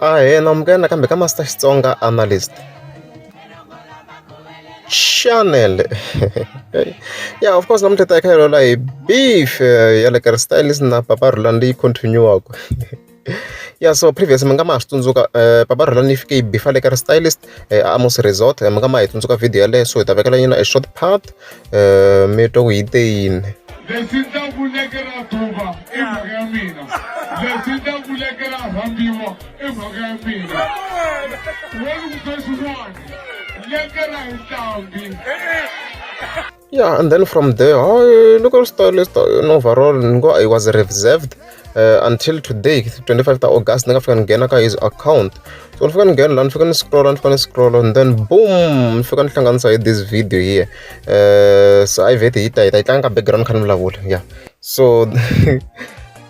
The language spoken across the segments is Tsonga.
a hena amukela nakambe ka master xitsonga analyst channel yeah of course namuntlha hi ta hi kha hi loloha hi beef ya le ka stylist na papa rhulani leyi continue-waka ya so previous mi nga ma ha swi tsundzuka eh, papa rhelani yi fike yi bifa le ka ri stylist eh, a amos resort eh, mi nga ma hi tsundzuka video yaleyo so hi ta vekela yina e short part um mi twa ku yi te yini lexi ndza vuleke ra duva i mhaka ya mina lexi ndza vuleke ra rhambiwa i mhaka ya mina wena ku sweswiwani leke ra hi ntambi yeah and then from there hayi loko ri star lista an overall ni ngo i was reserved uh, until today 25 ta august ni nga fika ni nghena ka his account so ni fika ni nghena laha ni fika ni scrolla ni fika ni scrolla and then boom ni fika ni hlanganisa hi this video here uh, so i vete hi ta hi ta yi tlanga ka background kha ni vulavula yeah so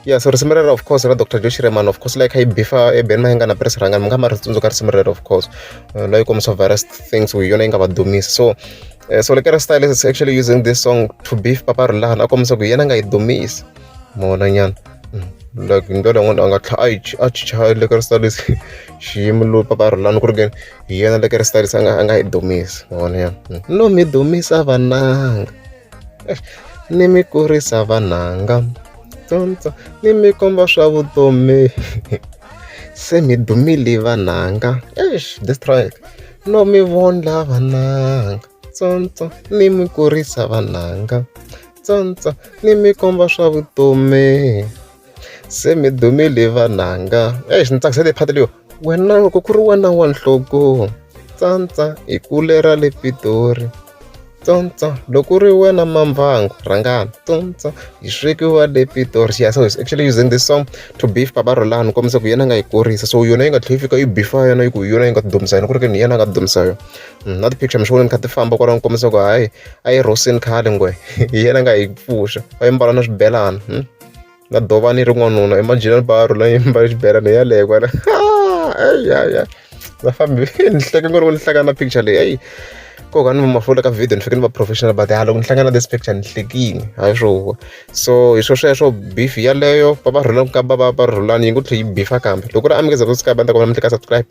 ya so risimu rero of course ra dr josh reman of course like hi bifa eben ma nga na press ranga mi nga ma ri tsundzuka risimu rero of course uh, loyi kombisa various things we yona yi nga va dumisi so uh, so lekera style is actually using this song to beef papa rulahan a kombisa ku yena nga yi dumisi mona nyana mm. like hi ndlela yin'wana a nga tlha a chicha lekera style is xiyimo lo papa rulani ku ri ke hi yena lekera style a nga a nga yi dumisi mona nyana mm. no mi dumisa vananga ni mi kurisa vananga tsontsó ni mi komba swa vutomi se mi dumile vananga eish this track no mi vondla vananga tsontsó ni mi kurisa vananga tsontsó ni mi komba swa vutomi. Se mi dumile vananga exi ni tsakisa leyi phata leyo wena loko ku ri wena wa nhlokonho tsantsa hi kule ra le Pitori tsantsa loko ri wena Mambango rhangani tsantsa hi swekiwa le Pitori ya so actually using this song to beef papa Rhulani ni kombisa ku yena a nga yi kurisa so yona yi nga tlhela yi fika yi bifa yona yi ku hi yona yi nga dumisa yona ku ri ke ni hi yena a nga dumisa yona mm, na ti-picture mi swi vona ni kha ti famba kwalaho ni kombisa ku hayi a yi rhosini khale ngwe hi yena a nga yi pfuxa a yi mbala na swibelana hmm? na dovha ni ri n'wanuna imagine ni ba rhula ni mbale xibelani yaleyo kwala ya va fambi ni hleke ngo loko ni hlangana na picture leyi eyi ko ka ni va mafula ka video ni fike ni va professional but ha loko ni hlangana this picture ni hlekini hayi swoho so hi swo sweswo beef yaleyo va va rhula ku kamba va va rhulani yi ngo tlhe yi beefa kambe loko ri amukeza ku sikaba ni ta kombela mi tleka subscribe